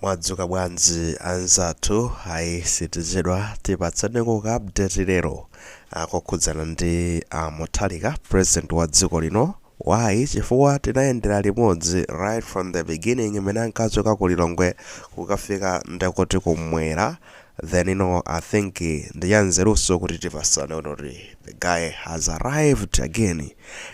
Mwadzuka bwanji anzathu ayi sitichedwa tipatseniko ka update lero ah, okhudzana ndi a Mutharika president wa dziko lino why chifukwa tinayendera limodzi right from the beginning mmene ankachoka ku Lilongwe kukafika ndekuti kumwera Then no I think ndi ya nzeruso kuti tipasane ona kuti the guy has arrived again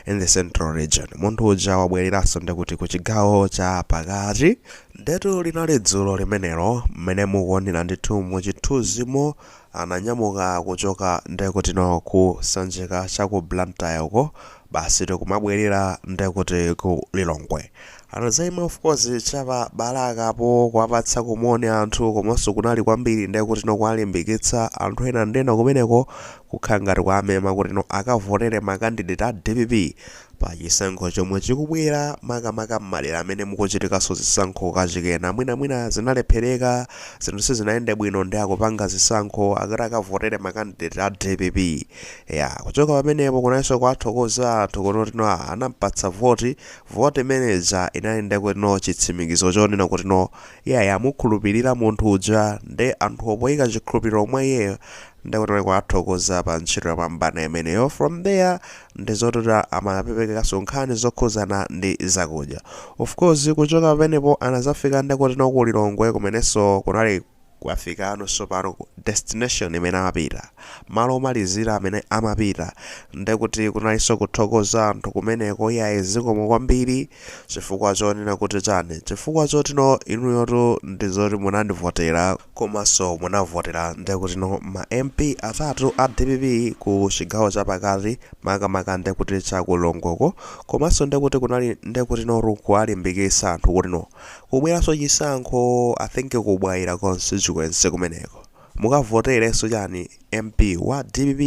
in the central region munthu uja wabweleraso ndekuti ku chigawo cha pakati ndetu linali dzulo limenelo mmene mukuonera ndithu mu chithuzimo ananyamuka kuchoka ndekuti no ku sanjika cha ku Blantyre uko basitu kumabwelera ndekuti ku Lilongwe Anadzaima of course cha pa Balaka po kuwapatsako moni anthu komanso kunali kwambiri ndekuti no kuwalimbikitsa anthu ena ndiye no kumeneko kukhala ngati kuwamema kuti no akavotere ma candidate a dpp pa chisankho chomwe chikubwera makamaka m'madera amene mukuchitikanso zisankho kachikenanso mwinamwina zinalephereka zinthu sizinayende bwino ndiye akupanga zisankho akuti akavotere ma candidate a dpp ya kuchoka pamenepo kunalinso kuwathokoza anthu kuti no anampatsa voti Vote imene ija inali nde kuti no chitsimikizo chonena kuti no iyayi amukhulupilira munthu uja nde anthuwo poyika chikhulupiliro mwa iyeyo nde kuti no kuwathokoza pa ntchito yopambana imeneyo from there ndi zoti no amaperekaso nkhani zokhuzana ndi zakudya of course kuchoka pamenepo anazafika nde kuti no ku Lilongwe kumeneso kunali Kuwafika no tsopano ku destination imene amapita, malo omalizira amene amapita, ndekuti kunalinso kuthokoza anthu kumeneko, iyayi zikomo kwambiri, chifukwa chonena kuti chani, chifukwa choti no inuyotu ndizoti munandivotera, komanso munavotera ndekuti no ma MP atatu a dpp ku chigawo cha pakati makamaka ndekuti cha ku Lilongwe ko, komanso ndekuti kunali ndekuti notu kuwalimbikitsa anthu kuti no. Kukubweranso chisankho I think ku Bwaila constituency kumeneko mukavoterenso chani MP wa dpp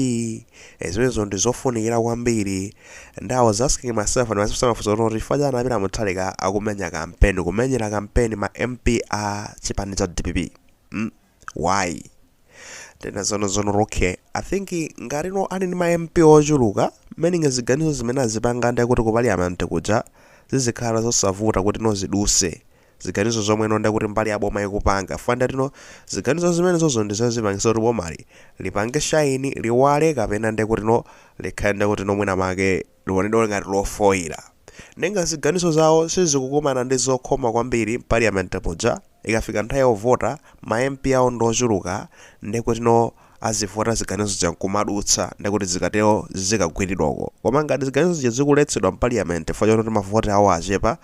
ee zimenezo ndi zofunikira kwambiri and I was asking myself ndimadzifunsa mafunso kuti chifukwa chani a Peter Mutharika akumenya kampeni kumenyera kampeni ma MP a chipani cha dpp mm. why tena zono zono okay i think ngati no ali ndi ma mp ochuluka meaning ziganizo zimene azipanga ndi kuti ku Parliament kuja zizikhala zosavuta kuti no ziduse ziganizo zomwe no ndakuti mbali ya boma ikupanga chifukwa ndekuti no ziganizo zimenezozo ndi zozipangisa kuti bomali lipange shine liwale kapena ndi kuti no likhale ndi kuti no mwina make Liwonedwa ngati lofoira. Nanga ziganizo zawo sizikukumana ndi zokhoma kwambiri mpaliyamenti muja, ikafika nthawi yovota, ma MP awo ndi ochuluka, nde kutino azivota ziganizo zija nkumadutsa, nde kuti zikatero zikagwiridwa uko. Koma ngati ziganizo zija zikuletsedwa mpaliyamenti chifukwa chototi ma voti awo achepa,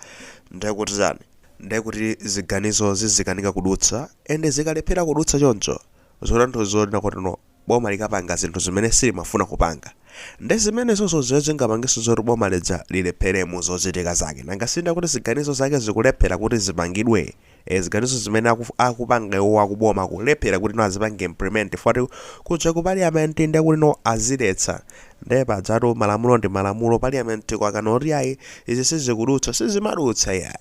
nde kuti chani? Nde kuti ziganizo zizikanika kudutsa, and zikalephera kudutsa choncho, zikutanthauza zonena kutino boma likapanga zinthu zimene silimafuna kupanga nde zimenezozo zimene zingapangitso zoti boma lija lilephere mu zochitika zake nanga si nde kuti ziganizo zake zikulephera kuti zipangidwe ee ziganizo zimene aku, akupanga iwowo akuboma kulephera kuti no azipange implement chifukwa choti kuja ku parliament nde kuti no aziletsa nde pajatu malamulo ndi malamulo parliament ikakana kuti ayi izi sizikudutsa sizimadutsa iyayi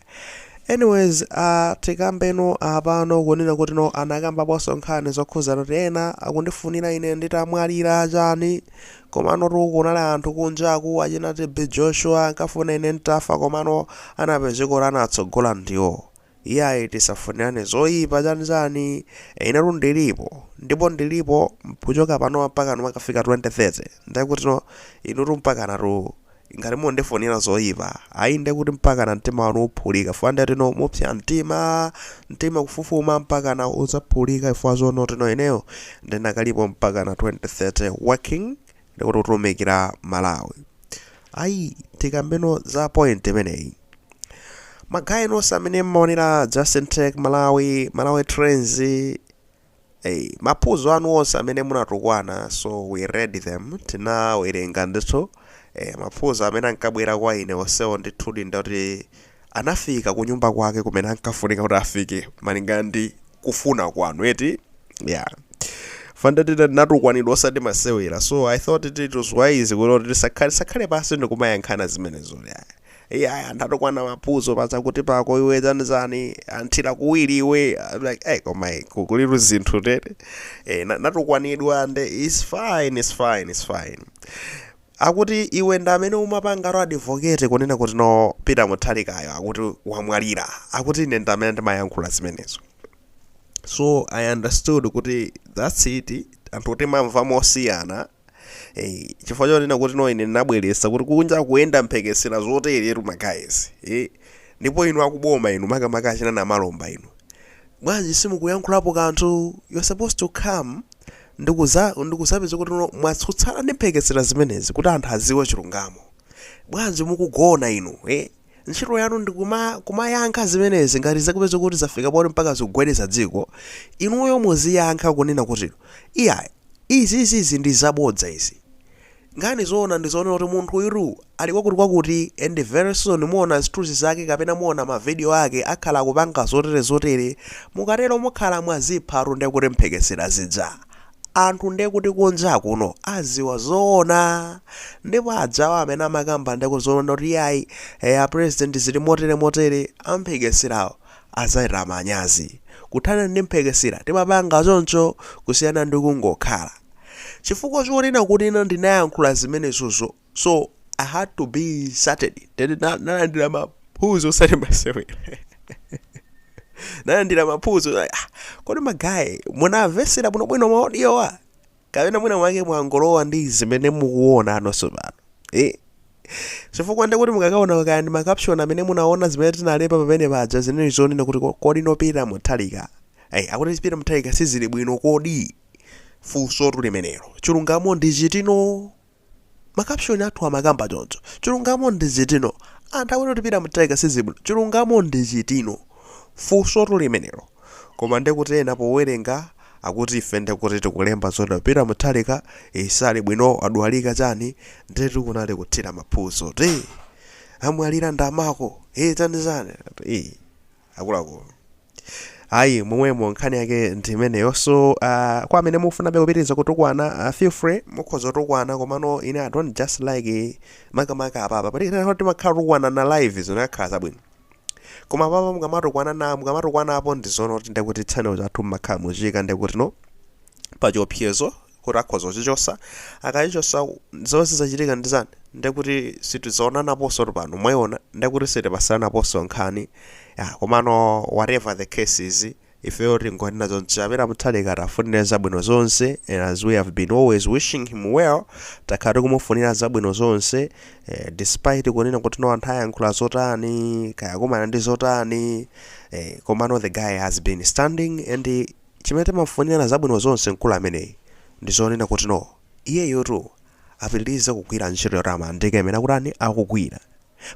Anyways uh, tikambeno apano kunena kuti no anakambaponso nkhani zokhuza kuti ena akundifunira ine nditamwalira chani komanotu kunali anthu kunjaku achina TB Joshua ankafuna ine ntafa komano anapezeka kuti anatsogola ndiwo iyayi tisafunirane zoyipa chani chani inetu ndilipo ndipo ndilipo kuchoka panopa mpaka kumakafika 2030 ndekutino inutu mpakana tu Ngati mundifunira zoipa, ayi ndekuti mpakana mtima wanu uphulika chifukwa nde tino mupsya mtima, mtima kufufuma mpakana udzaphulika chifukwa zono tino ineyo ndinakalipo mpakana 2030 working ndikutumikira Malawi. Ayi tikambeno za point imeneyi. Magaye nonse amene mmaonera Justin Tech Malawi, Malawi Trends, Hey, maphuzo anu onse amene munatukwana so we read them tinawerenga ndithu eh, maphuzo amene ankabwera kwa ine onsewo ndithudi ndati anafika kunyumba kwake kumene ankafunika kuti afike malingana ndi kufuna kwanu eti yeah chifukwa ndithu ndinatukwanidwa osati masewera so i thought it, it was wise kuti tisakhale sakhale pansi ndikumayankhana zimenezo yeah. Iyayi anthu atukwana maphuzo pachakuti pako iwe chanichani anthira kuwiri iwe I'm like hey koma hey, ku- kulitu zinthu tete eh, na- natukwanidwa nde it's fine it's fine it's fine akuti iwe ndi amene umapanga ro advocate kunena kuti no Peter Mutharikayo akuti wamwalira akuti ine ndi amene ndimayankhula zimenezo so i understood kuti that's it anthu timamva mosiyana Hey, chifukwa chonena kuti no ine ndinabweretsa kuti kunja kuyenda mphekesera zoteretu ma guys eh? ndipo inu akuboma inu makamaka achina Namalomba inu bwanji simukuyankhulapo kanthu you're supposed to come ndikuza ndikuzapeza kuti no mwatsutsana ndi mphekesera zimenezi kuti anthu adziwe chilungamo bwanji mukugona inu eh? Ntchito yanu ndi kuma, kumayankha zimenezi ngati zakupeza kuti zafika poti mpaka zikugwedeza dziko, inuyo muziyankha kunena kuti iyayi izi izi izi ndi zabodza izi. Nkhani zoona ndi zoona kuti munthu uyu tu ali kwakuti kwakuti and very soon muona zithunzi zake kapena muona ma video ake akhala akupanga zotere zotere, mukatero mukhala mwazipha tu ndekuti mphekesera zija Anthu nde kuti kunja kuno aziwa zoona ndipo ajawa amene amakamba nde kuzonena kuti iyayi eh a president zili motere motere amphekeserawo azachita manyazi. Kuthana ndi mphekesera timapanga choncho kusiyana ndi kungokhala. Chifukwa chonena kuti ine ndinayankhula zimenezozo so i had to be insulted tene na- nalandira maphuzo osati masewera nalandira maphuzo like, ah, kodi magayi munamvesera bwino bwino maodiyowa kapena mwina mwake mwangolowa ndi zimene mukuona anonso pano eh? chifukwa ndekuti mukakaona kaya ndi makapshoni amene munaona zimene tinalemba pamene paja zinali zonena kuti ko- kodi no Peter Mutharika Ayi, akuti Peter Mutharika sizili bwino kodi funso tu limenelo chilungamo ndi chiti no Makapshoni athu amakamba choncho. Chilungamo ndi chiti no. Anthu akuti kuti Peter Mutharika sizili bwino. Chilungamo ndi chiti no. Funsotu limenelo. Koma nde kuti ena powerenga akuti ife nde kuti tikulemba zoti Peter Mutharika ee sali bwino adwalika chani ndetu kunali kuthira maphuzo kuti ee amwalira ndi amako ee chani chani ee. akuluakulu ayi momwemo nkhani yake ndi imeneyo so uh, kwa amene mukufunabe kupitiriza kutukwana uh, feel free mukhoza kutukwana komano ine i don't just like eh, makamaka apapa pati nthawi timakhala tukwana na live zinakhala zabwino koma apapa mukamatukwana na mukamatukwanapo ndi zoona kuti ndekuti channel chathu mmakhala mukuchiika ndekuti no pachiopsezo kuti akhoza kuchichosa akachichosa zomwe zizachitika ndi zani ndekuti sitizaonanaponso pano mwaiona ndekuti sitipasiranaponso nkhani ya komano whatever the case is ifeyo tingonena zonena kuti a Mutharika tiwafunire zabwino zonse and as we have been always wishing him well takhala tikumufunira zabwino zonse eh, despite kunena kuti no anthu ayankhula zotani kaya kumana ndi zotani eh, komano the guy has been standing and he Chimene timamufunira zabwino zonse mkulu ameneyi ndi zonena kuti no, iyeyotu apitilize kugwira ntchito yotamandika imene akutani, akugwira.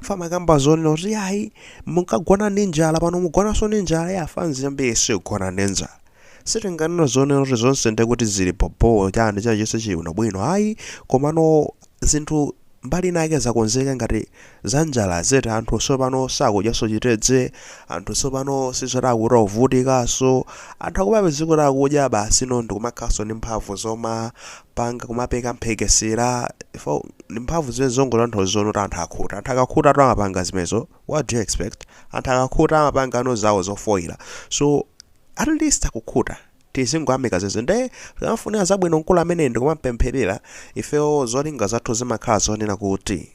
Paja amakamba zonena kuti yayi munkagona ndi njala pano mugonanso ndi njala ya fanzi yambiri siigona ndi njala. Sitinganene zonena kuti zonse ndekuti zili bho bho chani chilichonse chili bwino bwino ayi komano zinthu. mbali inayake zakonzeka ngati za njala eti anthu sopano sakudyaso chitedze anthu sopano sizoti akuti akuvutikaso anthu akupezeka kuti akudya basi no ndikumakhalaso ndi mphamvu zomapanga kumapeka mphekesera ndi mphamvu zimene zongotanthauza zoti anthu akhuta anthu akakhutatu amapanga zimenezo what do you expect anthu akakhuta amapanga no zawo zofoila so at least akukhuta tizingoyamika zedi nde timamufunira zabwino mkulu ameneyi ndikumampempherera ifeyo zolinga zathu zimakhala zonena kuti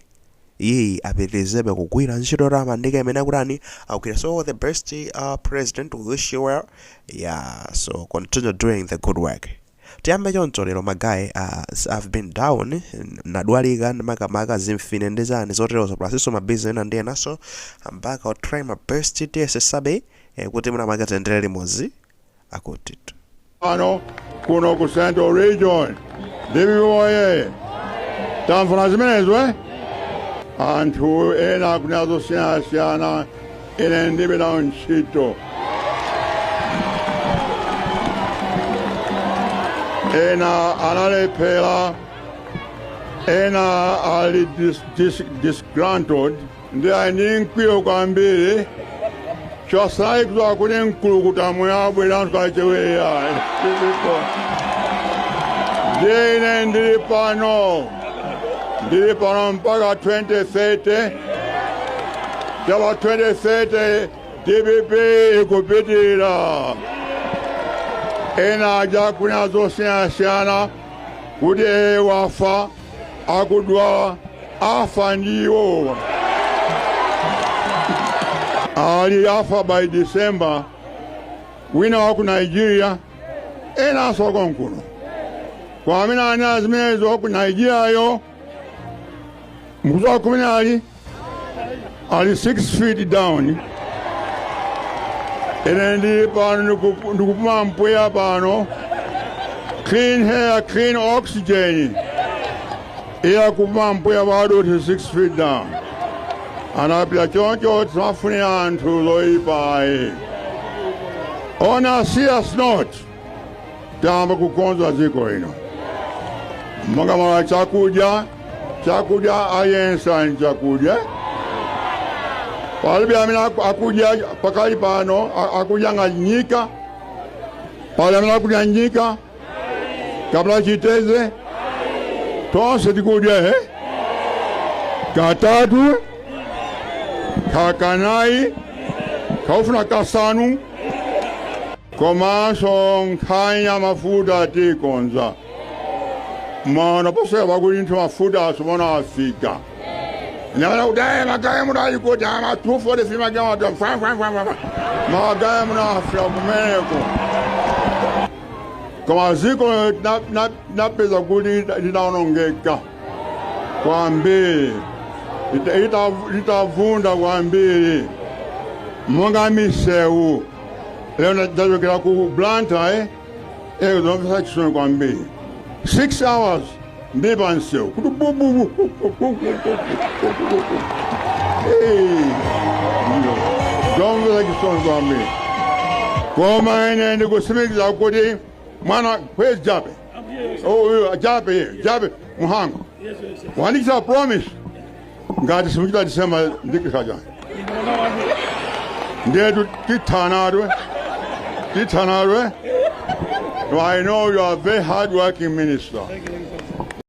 iyeyi apitirizebe kugwira ntchito yotamandika imene akutani akugwira so the best uh, president we wish you well yeah so continue doing the good work tiyambe choncho lero magaye as i've been down n- nadwalika makamaka zimfine ndi zani zoterozo plasinso mabizi ena ndi enaso I'm back I'll try my best tiyesetsabe eh, kuti mwinamwake tiyendere limodzi akutitu kuno ku central region DPP woye sitifuna zimenezo eh anthu ena akunena zosiyanasiyana ine ndilibe nawo ntchito ena analephera ena ali dis, dis, disgruntled ndi ali ndi mkwiyo kwambiri chifukwa kuti akuli mkulukuta moyo abwera anthu acheweya ndipo ndiye ine ndili pano ndili pano mpaka 2030 kuchoka apo 2030 dpp ikupitirira ena aja akunena zosiyanasiyana kuti iye wafa akudwala afa ndi iwowa ati afa by december wina wa ku nigeria enanso wakonkuno koma amene ananena zimenezo wa ku nigeriayo mukuziwa kumene ali ali 6 feet down ine ndili pano ndiku- ndikupuma mpweya pano clean air clean oxygen iye akupuma mpweya padothi 6 feet down anapita choncho tisamafunire anthu zoyipayi ona serious note tayamba kukonza dziko lino monga mwa chakudya chakudya aliyense ali ndi chakudya palibe amene aku- akudya pakali pano a- akudya nga nyika pali amene akudya nyika kapena chiteze tonse tikudya he katatu kanayi ukafuna kasanu komanso nkhani ya mafuta tikonza muona posachedwapa kuti ndithu mafuta asopano afika nyamala kudaye magaye muno ali kuti ama 243 magaye muno ati fwa fwa fwa fwa magaye muno afika kumeneko koma dziko na- na- napeza kuti linaonongeka kwambiri Lita- lita- litavunda kwambiri monga misewu lero ndachokera ku Blantyre uko zomvetsa chisoni kwambiri 6 hours ndi pansewu kuti bububu zomvetsa chisoni kwambiri koma ine ndikutsimikiza kuti mwana where's Jappie uyu Jappie ye Jappie Mhango wandichita promise ngati simuchita December ndikusacha ndetu tithanadwe tithanadwe I know you are a very hard working minister.